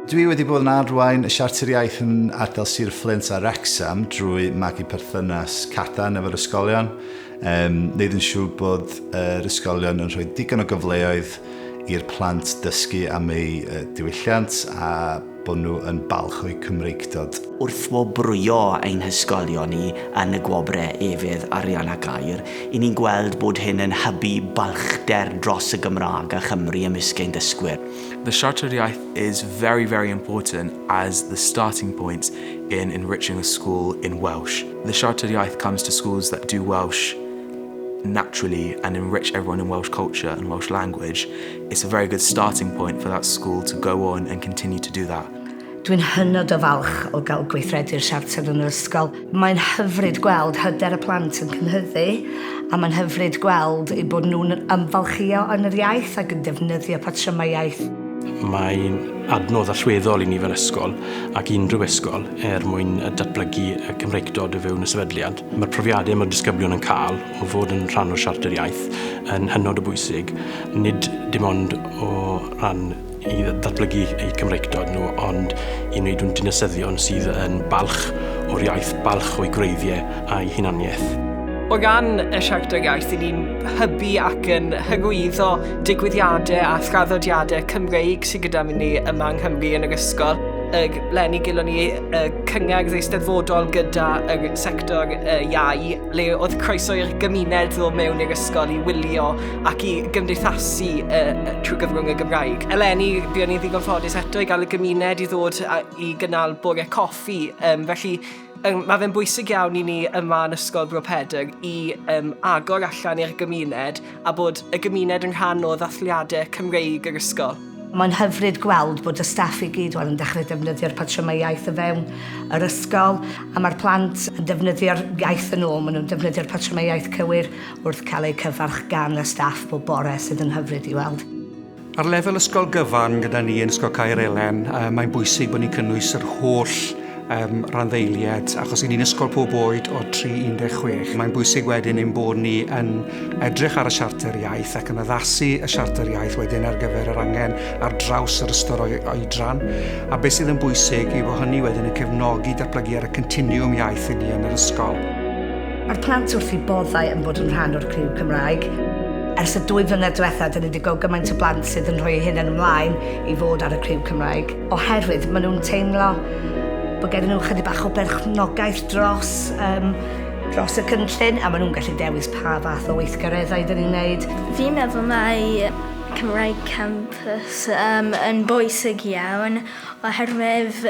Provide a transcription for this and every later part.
Dwi wedi bod yn arwain y Siarter Iaith yn ardal Sir Fflint a Wrexham drwy magu perthynas cadarn efo'r ysgolion, um, neud yn siŵr bod yr uh, ysgolion yn rhoi digon o gyfleoedd i'r plant dysgu am eu uh, diwylliant a bod nhw yn balch o'u Cymreictod. Wrth wobrwyo ein hysgolion ni yn y gwobrau Efydd, Arian a Gair, i ni'n gweld bod hyn yn hybu balchder dros y Gymraeg a Chymru ymysg ein dysgwyr. The Siarter Iaith is very, very important as the starting point in enriching a school in Welsh. The Siarter Iaith comes to schools that do Welsh naturally and enrich everyone in Welsh culture and Welsh language. It's a very good starting point for that school to go on and continue to do that. Dwi'n hynod o falch o gael gweithredu'r siarter yn yr ysgol. Mae'n hyfryd gweld hyder y plant yn cynhyddu a mae'n hyfryd gweld eu bod nhw'n ymfalchio yn yr iaith ac yn defnyddio patrymau iaith. Mae'n adnodd allweddol i ni fel ysgol ac unrhyw ysgol er mwyn datblygu y Cymreictod o fewn y sefydliad. Mae'r profiadau mae'r disgyblion yn cael o fod yn rhan o'r Siarter Iaith yn hynod o bwysig, nid dim ond o ran i ddatblygu eu Cymreictod nhw, ond i wneud nhw'n dinasyddion sydd yn balch o'r iaith, balch o'i gwreiddiau a'i hunaniaeth. O ran y Siarter Iaith, i ni'n hybu ac yn hyrwyddo digwyddiadau a thraddodiadau Cymreig sydd gyda ni yma yng Nghymru yn yr ysgol. Yr leni gelon ni y cyngerdd eisteddfodol gyda'r sector iau, le oedd croeso i'r gymuned ddod mewn i'r ysgol i wylio ac i gymdeithasu uh, trwy gyfrwng y Gymraeg. Eleni, fi o'n i'n ddigon ffodus eto i gael y gymuned i ddod a, i gynnal bore coffi, um, felly um, mae fe'n bwysig iawn i ni yma yn Ysgol Bro Pedr i um, agor allan i'r gymuned a bod y gymuned yn rhan o ddathliadau Cymreig yr ysgol. Mae'n hyfryd gweld bod y staff i gyd 'wan yn dechrau defnyddio'r patrymau iaith o fewn yr ysgol, a mae'r plant yn defnyddio'r iaith yn ôl, maen nhw'n defnyddio'r patrymau iaith cywir wrth cael eu cyfarch gan y staff bob bore, sydd yn hyfryd i weld. Ar lefel ysgol gyfan gyda ni yn Ysgol Caer Elen, mae'n bwysig bod ni'n cynnwys yr holl um, randdeiliad, achos i ni'n ysgol pob oed o 3-16. Mae'n bwysig wedyn ein bod ni yn edrych ar y siarter iaith ac yn addasu y siarter iaith wedyn ar gyfer yr angen ar draws yr ystod oedran. A beth sydd yn bwysig i fod hynny wedyn yn cefnogi datblygu ar y continiwm iaith i ni yn yr ysgol. Mae'r plant wrth i boddau yn bod yn rhan o'r criw Cymraeg. Ers y dwy flynedd diwethaf, dyn ni wedi gweld gymaint o blant sydd yn rhoi hyn yn ymlaen i fod ar y criw Cymraeg. Oherwydd maen nhw'n teimlo bod gen nhw chydig bach o berchnogaeth dros, um, dros y cynllun a maen nhw'n gallu dewis pa fath o weithgareddau dyn ni'n gwneud. Fi'n meddwl mae Cymraeg Campus um, yn bwysig iawn oherwydd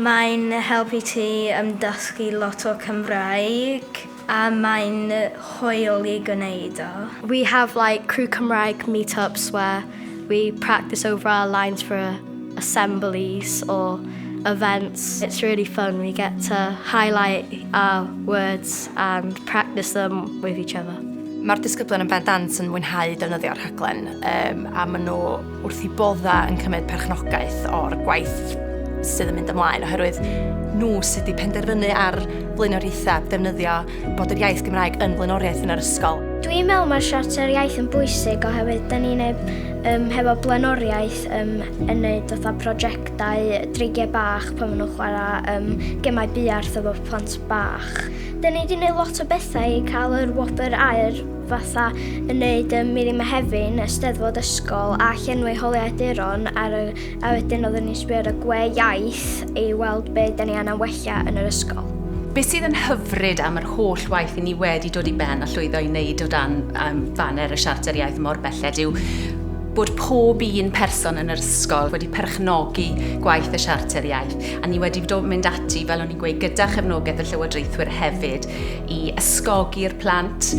mae'n helpu ti ymdysgu lot o Cymraeg. A mae'n hwyl i gwneud o. We have like Crew Cymraeg meetups where we practice over our lines for assemblies or events. It's really fun, we get to highlight our words and practice them with each other. Mae'r disgyblion yn bendant yn mwynhau defnyddio'r rhaglen, a maen nhw... wrth i bodda yn cymryd perchnogaeth o'r gwaith sydd yn mynd ymlaen oherwydd nhw sydd wedi penderfynu ar flaenoriaethau defnyddio bod yr iaith Gymraeg yn flaenoriaeth yn yr ysgol. Dwi'n meddwl mae'r siarter iaith yn bwysig oherwydd da ni'n ei um, hefo blaenoriaeth um, yn neud fatha prosiectau dreigiau bach pan maen nhw'n chwarae um, gemau buarth efo plant bach. Da ni wedi gwneud lot o bethau i cael yr wobr aer fatha yn neud y Miri Mehefin, y Steddfod Ysgol a llenwi holiau duron ar y, a wedyn oeddwn ni'n sbio ar y gwe iaith i weld be da ni anna wella yn yr ysgol. Be sydd yn hyfryd am yr holl waith i ni wedi dod i ben a llwyddo i wneud o dan um, faner y Siarter Iaith mor belled yw bod pob un person yn yr ysgol wedi perchnogi gwaith y Siarter Iaith a ni wedi dod mynd ati, fel o'n i'n gweud, gyda chefnogaeth y Llywodraethwyr hefyd i ysgogi'r plant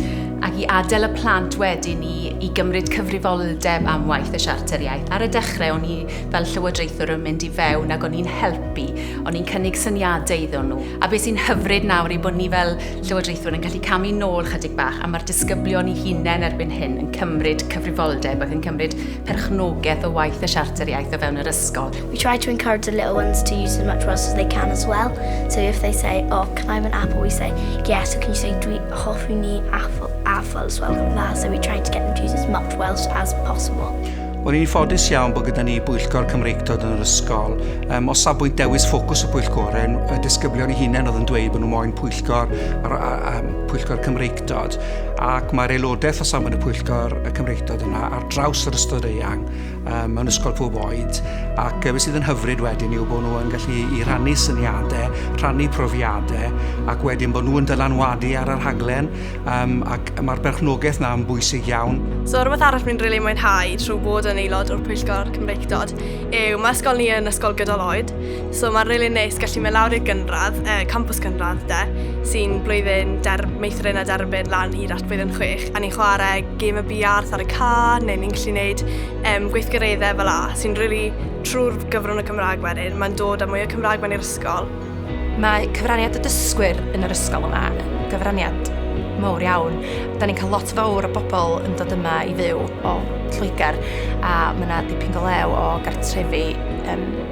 ac i adael y plant wedyn i, i gymryd cyfrifoldeb am waith y Siarter Iaith. Ar y dechrau, o'n i fel llywodraethwr yn mynd i fewn ac o'n i'n helpu, o'n i'n cynnig syniadau iddyn nhw. A beth sy'n hyfryd nawr yw bod ni fel llywodraethwr yn gallu camu nôl chydig bach a mae'r disgyblion i hunain erbyn hyn yn cymryd cyfrifoldeb ac yn cymryd perchnogaeth o waith y Siarter Iaith o fewn yr ysgol. We try to encourage the little ones to use as much words as they can as well. So if they say, oh, can I have an apple? We say, yeah, so can you say, dwi hoffi ni apple, apple as well, like that. So we try to get them to use as much Welsh as possible. Wel, ni'n ffodus iawn bod gyda ni bwyllgor Cymreictod yn yr ysgol. Um, o safbwynt dewis ffocws y pwyllgorau, y disgyblion i hunain oedd yn dweud bod nhw moyn pwyllgor, ar, ar, ar, pwyllgor Cymreictod Cymreictod ac mae'r aelodaeth o safon y pwyllgor y Cymreictod yna ar draws yr ystod eang um, mewn ysgol pob oed ac beth sydd yn hyfryd wedyn yw bod nhw yn gallu i rannu syniadau, rhannu profiadau ac wedyn bod nhw'n dylanwadu ar yr haglen um, ac mae'r berchnogaeth yna yn bwysig iawn. So rhywbeth arall mi'n rili really mwynhau trwy bod yn aelod o'r pwyllgor Cymreictod yw mae ysgol ni yn ysgol gydol oed So mae'n rili really neis gallu mynd lawr i'r gynradd, uh, campus gynradd de, sy'n blwyddyn der, meithrin a derbyn lan hyd at blwyddyn chwech, a ni'n chwarae gêm y biarth ar y ca, neu ni'n gallu gwneud um, gweithgareddau fel la, sy'n rili really trwy'r gyfrwng y Cymraeg wedyn, mae'n dod â mwy o Cymraeg mewn i'r ysgol. Mae cyfraniad y dysgwyr yn yr ysgol yma yn gyfraniad mawr iawn. Da ni'n cael lot fawr o bobl yn dod yma i fyw o Lloegr a mae yna dipyn go lew o gartrefi um,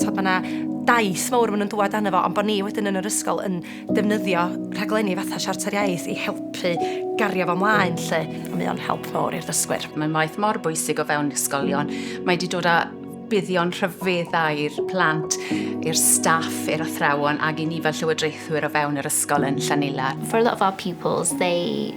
Tod, mae yna daith mawr maen nhw'n dŵad arno fo, ond bod ni wedyn yn yr ysgol yn defnyddio rhaglenni fatha Siarter Iaith i helpu gario fo mlaen, lle. A mae o'n help mawr i'r ddysgwyr. Mae'n waith mor bwysig o fewn ysgolion. Mae wedi dod â buddion rhyfeddau i'r plant, i'r staff, i'r athrawon, ac i ni fel llywodraethwyr o fewn yr ysgol yn Llanila. For a lot of our pupils, they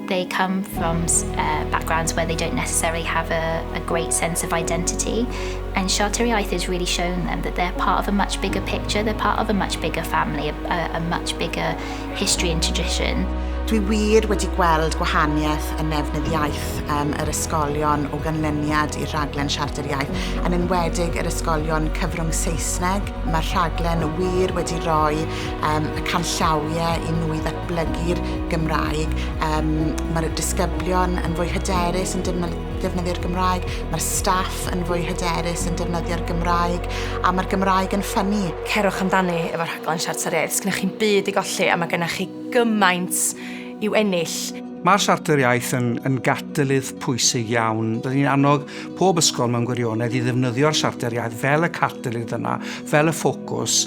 They come from uh, backgrounds where they don't necessarily have a, a great sense of identity. And Siarteriaeth is really showing them that they're part of a much bigger picture, they're part of a much bigger family, a, a much bigger history and tradition. Dwi wir wedi gweld gwahaniaeth yn nefnydd iaith um, yr ysgolion o ganlyniad i'r rhaglen Siarter Iaith, yn enwedig yr ysgolion cyfrwng Saesneg. Mae'r rhaglen wir wedi rhoi um, y canllawiau i nhw i ddatblygu'r Gymraeg. Um, Mae'r disgyblion yn fwy hyderus yn defnyddio'r Gymraeg, mae'r staff yn fwy hyderus yn defnyddio'r Gymraeg, a mae'r Gymraeg yn ffynnu. Cerwch amdani efo rhaglen Siarter Iaith. Sgynnych chi'n byd i golli a mae gennych chi gymaint i'w ennill. Mae'r Siarter Iaith yn, yn gatalydd pwysig iawn. Rydyn ni'n annog pob ysgol mewn gwirionedd i ddefnyddio'r Siarter Iaith fel y catalydd yna, fel y ffocws.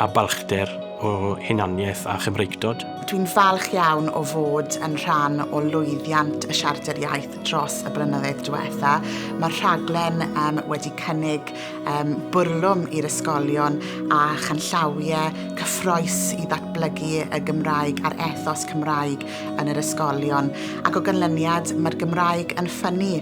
a balchder o hunaniaeth a Chymreictod. Dwi'n falch iawn o fod yn rhan o lwyddiant y Siarter Iaith dros y blynyddoedd diwetha. Mae'r rhaglen um, wedi cynnig um, bwrlwm i'r ysgolion a chanllawiau cyffroes i ddatblygu y Gymraeg a'r ethos Cymraeg yn yr ysgolion. Ac o ganlyniad, mae'r Gymraeg yn ffynnu